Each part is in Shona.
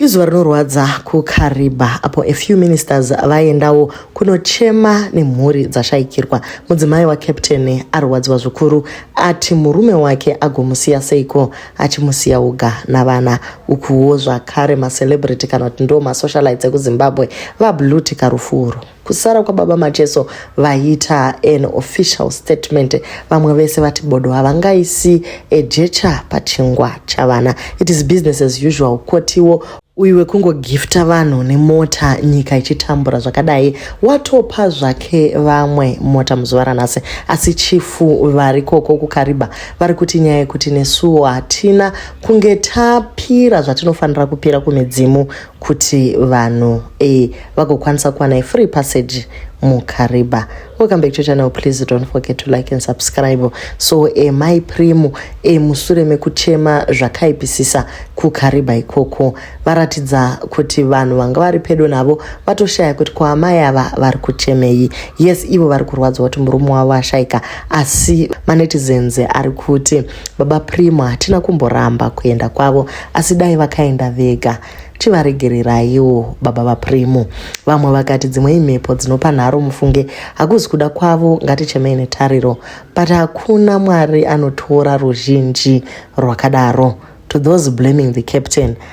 Izuva rinorwadza kuKariba apo a few ministers vaendawo kunochema nemhuri dzashaikirwa. Mudzimai waCaptain arwadziwa zvikuru ati murume wake agomusiya seiko achimusiya uga navana. Ukuwo zvakare macelebrity kana kuti ndo masocialites ekuZimbabwe vablutika rufu urwu. Kusara kwababa Macheso vaita an official statement vamwe vese vati bodo havangaisi ejecha pachingwa chavana. It is business as usual kotiwo uyu wekungogifta vanhu nemota nyika ichitambura zvakadai watopa zvake vamwe mota muzuva ranhasi asi chifu vari koko kukariba vari kuti nyaya yekuti nesuwo hatina kunge tapira zvatinofanira kupira kumidzimu kuti vanhu eh, vagokwanisa kuwana ifree passage mukariba welcome back to channel please don't forget to like and subscribe so e eh, mai primo e eh, musure mekuchema zvakaipisisa kukariba ikoko varatidza kuti vanhu vanga vari pedo navo vatoshaya kuti kwaamai ava vari kuchemei yes ivo vari kurwadziwa kuti murume wavo ashaika asi manetizens ari kuti Baba Primo hatina kumboramba kuenda kwavo asi dai vakaenda vega tivaregereraiwo baba vaPrimo. Vamwe vakati dzimwe imhepo dzinopa nharo mufunge hakuzi kuda kwavo ngatichemei netariro but hakuna Mwari anotora ruzhinji rwakadaro. To those blaming the captain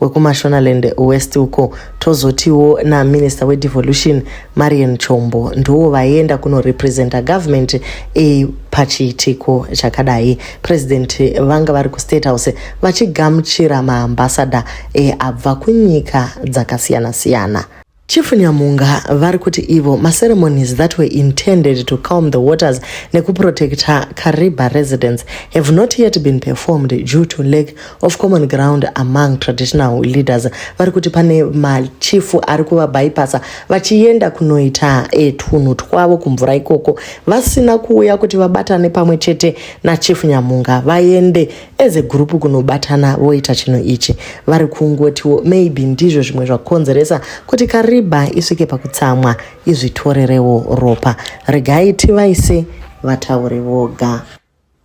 wekumashonaland west uko tozotiwo naminister wedevolution marian chombo ndiwo vaienda kunorepresenta government e, pachiitiko chakadai president vanga vari kustate house vachigamuchira maambasada e, abva kunyika dzakasiyana-siyana Chief Nyamunga vari kuti ivo maceremonies that were intended to calm the waters nekuprotecta Kariba residents have not yet been performed due to lack of common ground among traditional leaders vari kuti pane machifu ari kuvabhaipasa vachienda kunoita e, twunhu twavo kumvura ikoko vasina kuuya kuti vabatane pamwe chete nachief Nyamunga vaende as a group kunobatana voita chinhu ichi vari kungotiwo maybe ndizvo zvimwe zvakonzeresa kuti kariba isvike pakutsamwa izvitorerewo ropa regai tivaise vataure voga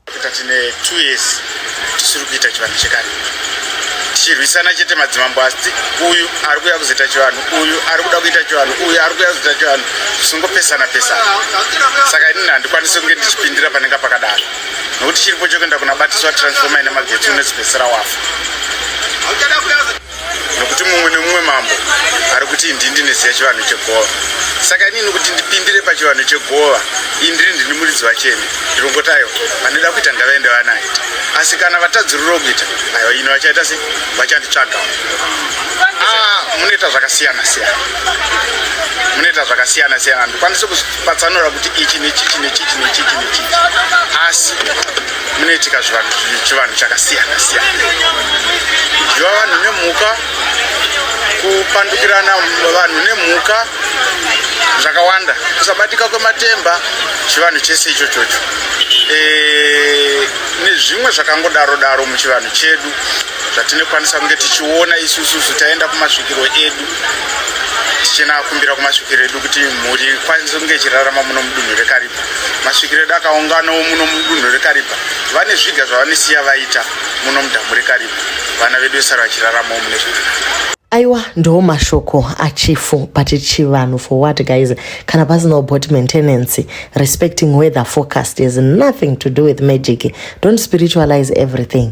tine two years tisiri kuita chivanhu chekariba tichirwisana chete madzimambo asi uyu ari kuya kuzoita chivanhu uyu ari kuda kuita chivanhu uyu ari kuya kuzoita chivanhu zvisingopesana pesana saka inini handikwanisi kunge ndichipindira panenge pakadaro nokuti chiripo chokuenda kunabatiswa transforma ine magetsi unozipedzisira wafa nokuti mumwe nemumwe mambo ari kuti indi ndineziva chivanhu chegova saka inini kuti ndipindire pachivanhu chegova indiri ndini muridzi vachene ndirongotayo vanoda kuita ndavaende vanaita asi kana vatadziriro kuita ayo ino vachaita se vachanditsvaga ah, munoita zvakasiyana siyana munoita zvakasiyana siyana ndikwanise kuzvi patsanura kuti ichi nechichi nechichi nechichi nechichi asi munoitika zvivanhu chivanhu chakasiyana siyana kudyiwa vanhu nemhuka kupandukirana vanhu nemhuka zvakawanda kusabatika kwematemba chivanhu chese icho chocho eh, nezvimwe zvakangodaro daro muchivanhu chedu zvatinokwanisa kunge tichiona isususu taenda kumasvikiro edu tichena akumbira kumasvikiro edu kuti mhuri ikwanise kunge ichirarama muno mudunhu rekaripa masvikiro edu akaunganawo muno mudunhu rekaripa vane zviga zvavanisiya vaita muno mudhamu rekaripa vana vedu vesara vachiraramawo mune zvakanaka aiwa ndo mashoko achifu but chivanhu for what guys kana pasina bot maintenance respecting weather forecast has nothing to do with magic don't spiritualize everything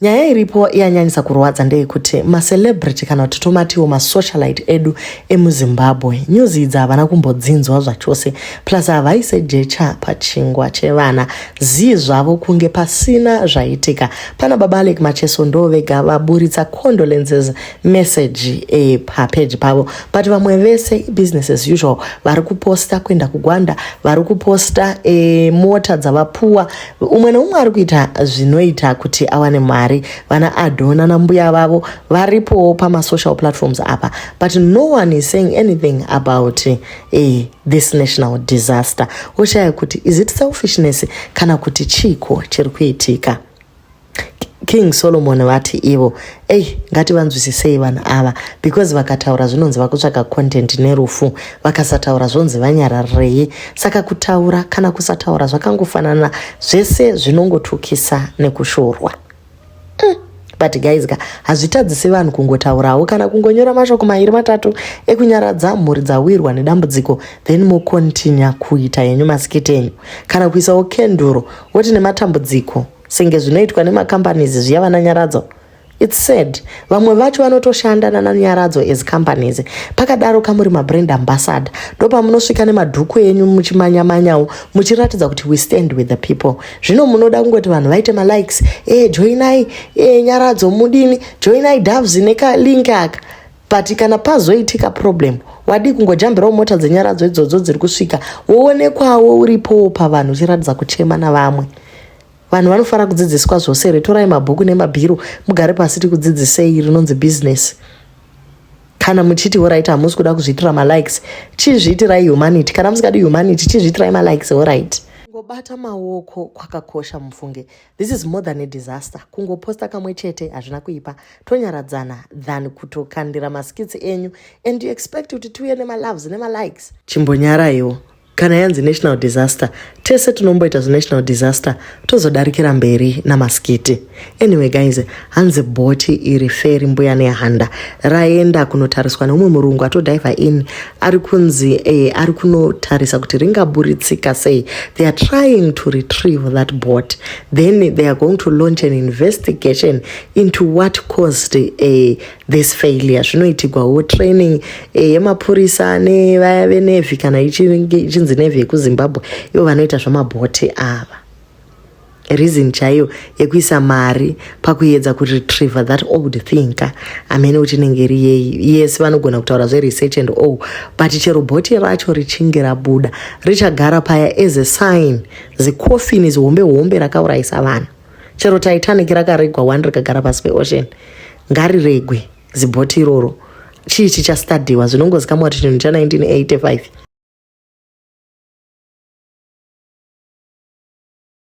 Nyaya iripo yanyanyisa kurwadza ndeyekuti macelebrity kana kuti tomatiwo masocialite edu emuzimbabwe news idzi havana kumbodzinzwa zvachose plus havaise jecha pachingwa chevana zii zvavo kunge pasina zvaitika pana baba alek macheso ndo vega vaburitsa condolences message e, papeji pavo but vamwe vese business as usual vari kuposta kuenda kugwanda vari kuposta e, mota dzavapuwa umwe neumwe ari kuita zvinoita kuti awane mari vana adhona nambuya vavo varipowo pamasocial platforms apa but no one is saying anything about eh, this national disaster woshaya kuti is it selfishness kana kuti chiiko chiri kuitika King Solomon vati ivo ei ngativanzwisisei vanhu ava because vakataura zvinonzi vakutsvaga content nerufu vakasataura zvonzi vanyararirei saka kutaura kana kusataura zvakangofanana zvese zvinongotukisa nekushorwa mm. but guys ka hazvitadzisi vanhu kungotaurawo kana kungonyora mashoko mairi matatu ekunyaradza mhuri dzawirwa nedambudziko then mokontinya kuita yenyu masikiti enyu kana kuisawo kenduro woti nematambudziko senge zvinoitwa nemacompanies zviya vana nyaradzo its sad vamwe vacho vanotoshanda nana nyaradzo as companies pakadaro kamuri mabrand ambassador ndopamunosvika nemadhuku enyu muchimanyamanyawo muchiratidza kuti we stand with the people zvino munoda kungoti vanhu vaite malikes e eh, joinai e eh, nyaradzo mudini joinai doves nekalink aka but kana pazoitika problem wadii kungojambirawo mota dzenyaradzo idzodzo dziri kusvika woonekwawo uripowo pavanhu uchiratidza kuchema navamwe vanhu vanofanira kudzidziswa zvose here torai mabhuku nemabhiro mugare pasi tikudzidzisei rinonzi business kana muchiti orit hamusi kuda kuzviitira malikes chizviitirai humanity kana musingadi humanity chizviitirai malikes orit kungobata maoko kwakakosha mufunge This is more than a disaster. Kungoposta kamwe chete hazvina kuipa. Tonyaradzana than kutokandira maskits enyu and you expect kuti tiuye nemaloves nemalikes. Chimbonyaraiwo. Kana yanzi national disaster, tese tinomboita zinational disaster tozodarikira mberi namaskiti. Anyway guys, hanzi bhoti iri feri mbuya nehanda raenda kunotariswa neumwe murungu atodhivha in ari kunzi eh, ari kunotarisa kuti ringaburitsika sei they are trying to retrieve that bot then they are going to launch an investigation into what caused eh, this failure zvinoitigwawo training eh, yemapurisa nevaya venevhi kana ichinzi nevhi yekuzimbabwe ivo vanoita zvamabhoti ava reason chaiyo yekuisa mari pakuedza kuretriever that old thing ka amene kuti inenge iri yeyi yes vanogona kutaura zveresearch and all but chero bhoti racho richinge rabuda richagara paya as a sign the coffin is hombe hombe rakaurayisa vanhu chero titanic rakaregwa one rikagara pasi peocean ngariregwe zibhoti iroro chii chichastadiwa zvinongozikamwa kuti chinhu cha 1985